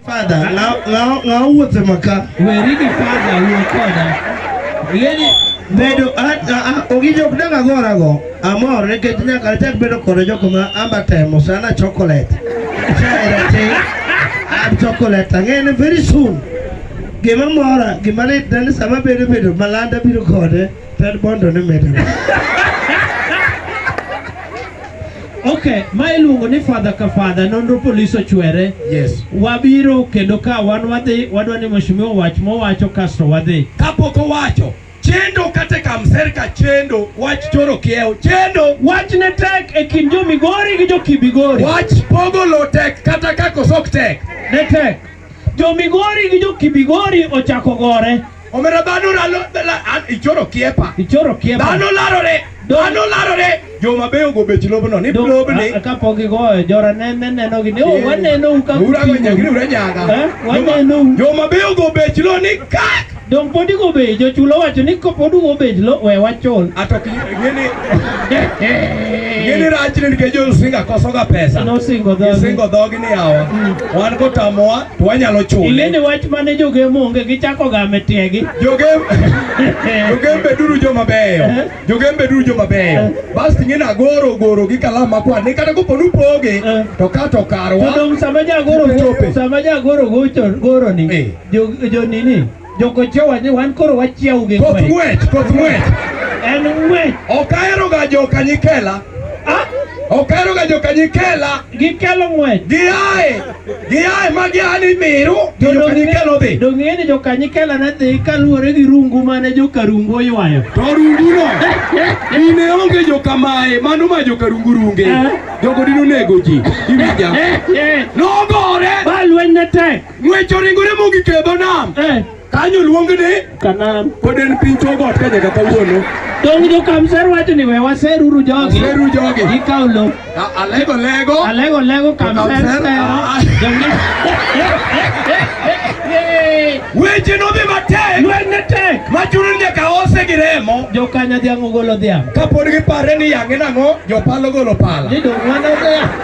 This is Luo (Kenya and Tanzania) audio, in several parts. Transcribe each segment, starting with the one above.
Father, now now now what the maka? We read the father, we father. Yeni bedo a ogijo kudanga gora go. Amor ne ket nya kar tek bedo kore joko ma amba temo sana chocolate. Chera te. Ab chocolate ngene very soon. Gima mora, gima ne dan sama bedo bedo malanda biro kode, tad bondo ne medo. Okay, ma iluongo ni fadha ka fadha nonro polis ochwere. Yes. Wabiro kendo ka wan wadhi wadwa ni mheshimiwa wach mowacho kasto wadhi. Kapok owacho chendo kata kamserka chendo wach choro kiewo chendo wach ne tek e kind jo Migori gi jo Kibigori. Wach pogo lo tek kata kako sok tek. Ne tek. Jo Migori gi jo Kibigori ochako gore. Omera dhano lalo ichoro kiepa. Ichoro kiepa. Dhano larore. Dhano larore. Jo mabeyo go bech lobno ni lobni. Kapok igoyo jora ne ne neno gi ni oh, waneno u ka. Ura go nyagri ura nyaga. Eh, waneno. Jo mabeyo go bech lo ni kak. Dong podi go be jochulo wacho ni kopod go bed lo we wachul. Ato ki ngeni. Ngeni rach ni ke jo singa koso ga pesa. No singo dog. Singo dog ni awa. Hmm. Wan ko tamoa to wanyalo chule. Ngeni wach mane jo ge monge gi chako ga metiegi. Jo ge Jo ge be duru jo mabeyo. Eh? Jo ge be duru jo mabeyo. Eh? Bas ngeni agoro goro gi kala makwa ni kata ko ponu poge eh? to kato karwa. Dong sama ja goro sama ja goro gocho goro ni. Jo jo nini? Jokochowa ni wan koro wachiawu gi Koth ng'wech. ng'wech, koth ng'wech. En ng'wech. Ok aheroga joka nyikela. Ah, Ok aheroga joka nyikela. gikelo ng'wech. Giaye, giaye ma gia ni miru, to joka nyikela odhi. Donge ng'e ni joka nyikela ne dhi kaluwore gi rungu mane joka rungu oywayo. To runguno, dine onge joka maye, mano ma joka rungu runge. Eh. Jogo dine onego ji. Iwinja? Eh, eh, Nogore! Ba lweny ne tek. Ng'wech oringore mogik e dho nam. Eh. Kanyo luong ni Kanaan. Pod en piny Chogot ka nyaka kawuono. Dong jo Kamser wacho ni we waseruru jogi. Waseru jogi. Gikaw lo. Alego lego. Alego lego Kamser sero. Weche nodhi matek. Lweny ne tek. Machuni nyaka ose gi remo. Jo kanya dhiang' ogolo dhiang'. Kapod gipare ni yang'e nang'o, jopalo golo pala. Ni dong' wana dhiang'.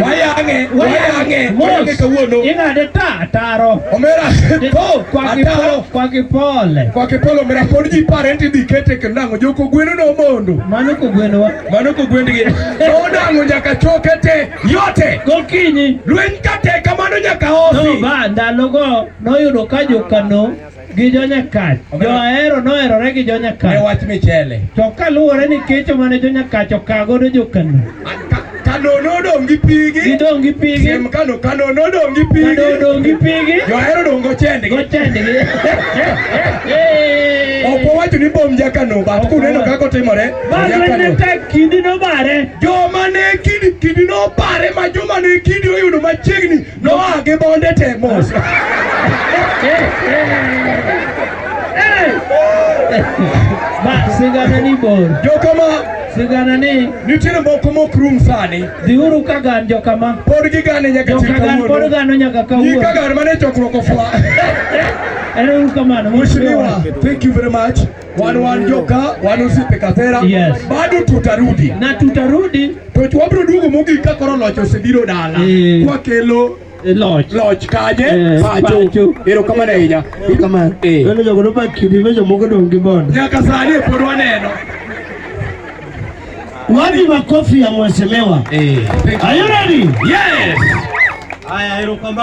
Wayange, wayange, wayange kawuono. Ing'ade ta ataro. Omera po kwa kipolo, kwa kipole. Kwa kipolo omera pod ji pare ni dhi kete kendo nango joko gweno no mondo. Mano ko gweno wa. Mano ko gwend gi. To nango nyaka choke te yote. Gokinyi. Lweny kate kamano nyaka osi. No ba ndalo go noyudo ka jokano gi jonyakach johero noherore gi jonyakach ne wach michele to kaluwore ni kecho mane jonyakach okagodo jokano kano nodong' gi pigi gidong' gi pigi siem kano kano nodong' gi pigi kano odong' gi pigi johero dong' gochendgi gochendgi ok owacho ni bom jakano bat kuneno kaka otimore bageneta kidi nobare joma ne kidi kidi nobare ma joma ne kidi oyudo machiegni Noa gi bonde te mos. Ma sigana ni bor. Jokama Sigana ni nitiere moko mok rum sani. dhiuru ka gan jokama. Pod gigane nyaka chil Joka gan pod kawuono. gano nyaka Nyika kawuono. gar mane chokruok ofwa. Ero uru kamano. Mheshimiwa, thank you very much. wan wan joka wan osiepe Kathera yes. Bado tutarudi na tutarudi to wabiro duogo mogik ka koro loch osebiro dala e. kwakelo e, loch loch kaje e, pacho ero kamano ahinya kamano e welo jogo no bakidi me jomoko dong gi bondo nyaka sani e pod waneno wapi makofi ya mheshimiwa e. are you ready yes haya ero kamano